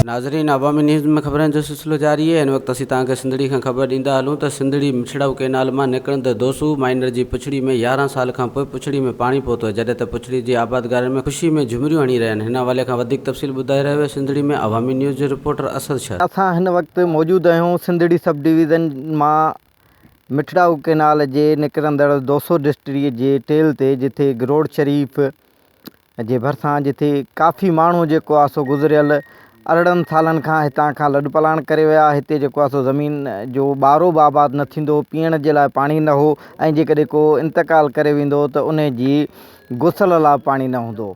ناظرين عوامي نيوز ۾ خبرن جو سلسلو جاري آهي ان وقت اسين توهان کي سنڌڙي کان خبر ڏيندا هلون ته سنڌڙي مڇڙو ڪينال مان نڪرندڙ دوسو مائنر جي پڇڙي ۾ يارهن سال کان پوء پڇڙي ۾ پاڻي پهتو آهي جڏهن ته پڇڙي جي آبادگارن ۾ خوشي ۾ جهومريون هڻي رهيا آهن هن حوالي کان وڌيڪ تفصيل ٻڌائي رهيو آهي سنڌڙي ۾ عوامي نيوز جو رپورٽر اسد شر. اسان هن وقت موجود آهيون سنڌڙي سب ڊويزن مان مٺڙائو ڪئنال جي نڪرندڙ دوسو ڊسٽريء جي ٽيل تي جتي گروڙ شريف جي ڀرسان جتي ڪافي ماڻهو جيڪو آ سو گذريل ارڙهن سالن کان هتان کان لڏپلاڻ ڪري ويا آ هتي جيڪو آ سو زمين جو ٻارو به آباد نه ٿيندو هو پيئڻ جي لاء پاڻي نه هو ۽ جيڪڏهن ڪو انتقال ڪري ويندو هو ته انهي جي غسل لاء پاڻي نه هوندو هو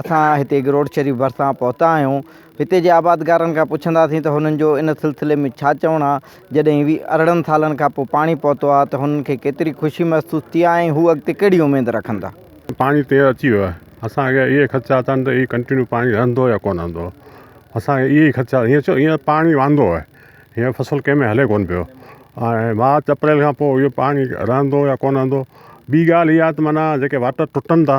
اسان هتي گروٽ شريف ڀرسان پهتا آهيون هتي جي آبادگارن کان پڇنداسين ته هنن جو ان سلسلي ۾ ڇا چوڻ آهي جڏهن ويهه ارڙهن سالن کان پوء پاڻي پهتو آهي ته هنن کي ڪيتري خوشي محسوس ٿي آهي ۽ هو اڳتي ڪهڙي اميد رکن ٿا. پاڻي تير اچي ويو آهي اسان کي اهي خدشا اٿن ته هي ڪنٽينيو پاڻي رهندو يا ڪونه رهندو اسان کي اهي خدشا هينئر ڇو هينئر پاڻي واندو آهي هينئر فصل ڪنهن ۾ هلي ڪونه پيو ۽ مارچ اپريل کان پوء اهو پاڻي رهندو يا ڪونه رهندو ٻي ڳالهه اها ته معنيٰ جيڪي واٽر ٽٽن ٿا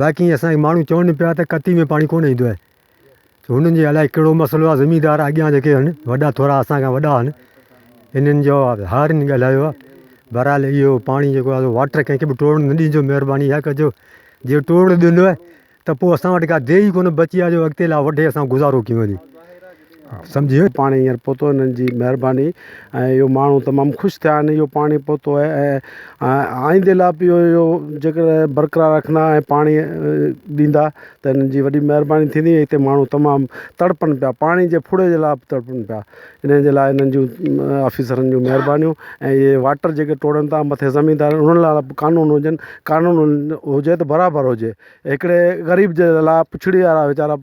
باقي اسان کي ماڻهو چون پيا ته ڪتي ۾ پاڻي ڪونه ايندو آهي ته هنن جي الائي ڪهڙو مسئلو آهي زميندار اڳيان جيڪي آهن وڏا ٿورا اسان کان وڏا آهن انهن جو هارين ڳالهايو آهي بهرحال اهو پاڻي جيڪو آهي واٽر ڪنهن کي به ٽوڙ نه ڏيجو مهرباني اها ڪجو جي ٽوڙ ڏنو آهي ته پوء اسان وٽ ڪا ديهه ئي ڪونه بچي آهي جو اڳتي لا وڍي اسان گذارو ڪيون سمجهي پاڻي هينئر پهتو انهن جي مهرباني ۽ اهو ماڻهو تمام خوش ٿيا آهن اهو پاڻي پهتو آهي ۽ آئندي لاء به اهو جيڪر برقرار رکندا ۽ پاڻي ڏيندا ته انهن جي وڏي مهرباني ٿيندي هتي ماڻهو تمام تڙپن پيا پاڻي جي ڦڙي جي لاء به تڙپن پيا انهن جي لاء انهن جون آفيسرن جون مهربانيون ۽ اهي واٽر جيڪي ٽوڙن ٿا مٿي زميندار انهن لاء به قانون هجن قانون هجي ته برابر هجي هڪڙي غريب جي لاء پڇڙي وارا ويچارا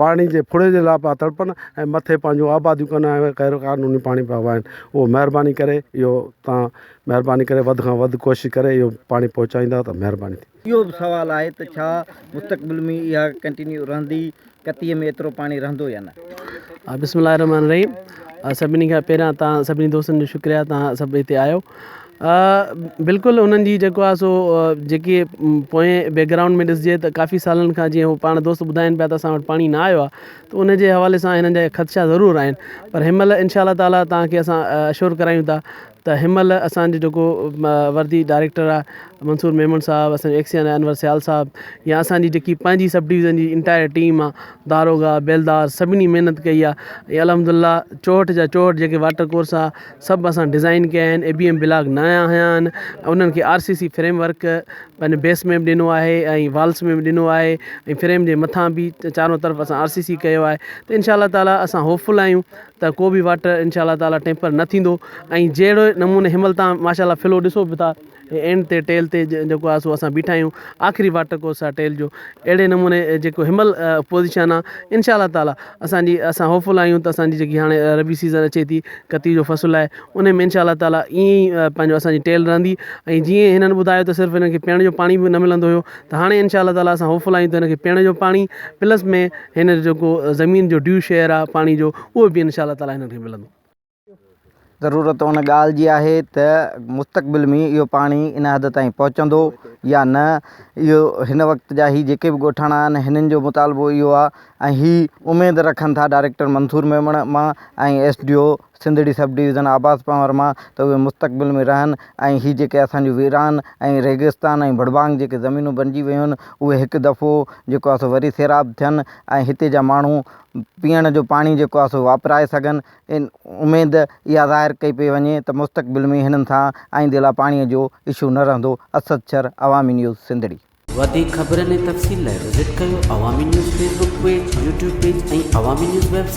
پاڻي جي ڦڙي جي لاء پيا تڙپن ۽ مٿي پنهنجون آباديون ڪن ۽ غير قانوني پاڻي پيا وهائن اهو مهرباني ڪري اهو تان مهرباني ڪري وڌ کان وڌ ڪوشش ڪري اهو پاڻي پهچائيندا ته مهرباني ٿيندي. اهو به سوال آهي ته ڇا مستقبل ۾ اها ڪنٽينيو رهندي ڪتيء ۾ ايترو پاڻي رهندو يا نه؟ بسم الله الرحمٰن الرحيم سڀني کان پهريان تهان سڀني دوستن جو شڪريا تهان سڀ هتي آيو بلڪل انهن جي جيڪو آهي سو جيڪي پوئين بيڪگرائونڊ ۾ ڏسجي ته ڪافي سالن کان جيئن هو پاڻ دوست ٻڌائين پيا ته اسان وٽ پاڻي نه آيو آهي ته ان جي حوالي سان هنن جا خدشا ضرور آهن پر هن مهل انشاء الله تعالٰي تهان کي اسان اشور ڪرايون ٿا ته هن مهل اسان جو جيڪو وردي ڊائريڪٽر آ منصور ميمڻ صاحب اسان جو ايڪسين آ انور سيال صاحب يا اسان جي جيڪي پنهنجي سب ڊويزن جي انٽائر ٽيم آ داروغا بيلدار سڀني محنت ڪئي آ ۽ الحمد الله چوهٺ جا چوهٺ جيڪي واٽر ڪورس آ سڀ اسان ڊزائن ڪيا آهن اي بي ايم بلاڪ نيا هنيا آهن انهن کي R C C framework پنهنجو بيس ميپ ڏنو آهي ۽ والس ميپ ڏنو آهي ۽ فريم جي مٿان به چارون طرف اسان آر سي سي ڪيو آهي ته انشاء الله تعاليٰ اسان هوپ فل آهيون ته ڪو به واٽر انشاء الله تعالي ٽيمپر نه ٿيندو ۽ جهڙو نموني هن مهل تان ماشاء الله فلو ڏسو به ٿا اينڊ تي ٽيل تي جيڪو آهي سو اسان بيٺا آهيون آخري واٽر ڪورس آهي ٽيل جو اهڙي نموني جيڪو هن مهل پوزيشن آهي انشاء الله تعالي اسانجي اسان هوپ فل آهيون ته اسانجي جيڪي هاڻي ربي سيزن اچي ٿي ڪتي جو فصل آهي ان ۾ انشاء الله تعالي ائين ئي پنهنجو اسانجي ٽيل رهندي ۽ جيئن هنن ٻڌايو ته صرف هنن کي پيئڻ جو پاڻي به نه ملندو هيو ته هاڻي انشاء الله تعالٰي اسان هوپ فل آهيون ته هن کي پيئڻ جو پاڻي پلس ۾ هن جو جيڪو زمين جو ڊيو شيئر آهي پاڻي جو اهو به انشاء الله تعالٰي هنن کي ملندو ضرورت ان ڳالهه جي آهي ته مستقبل ۾ اهو پاڻي ان حد تائين پهچندو يا نه اهو هن وقت جا هي جيڪي به ڳوٺاڻا آهن هنن جو مطالبو اهو آهي ۽ هي اميد رکن ٿا ڊائريڪٽر منصور ميمڻ مان ۽ S D O Sindhri sub division Abad Panhwar مان ته اهي مستقبل ۾ رهن ۽ هي جيڪي اسان جون ويران ۽ ريگستان ۽ ڀڙڀانگ جيڪي زمينون بنجي ويون اهي هڪ دفعو جيڪو آهي سو وري سيراب ٿين ۽ هتي جا ماڻهو پيئڻ جو پاڻي جيڪو آهي سو واپرائي سگهن ان اميد اها ظاهر ڪئي پئي وڃي ته مستقبل ۾ هنن سان آئيندي لاء پاڻي جو اشو نه رهندو اسد شر عوامي نيوز سنڌڙي. وڌيڪ خبرن ۽ تفصيل لاء وزٽ ڪريو Awami News Facebook page, YouTube page ۽ Awami News web site.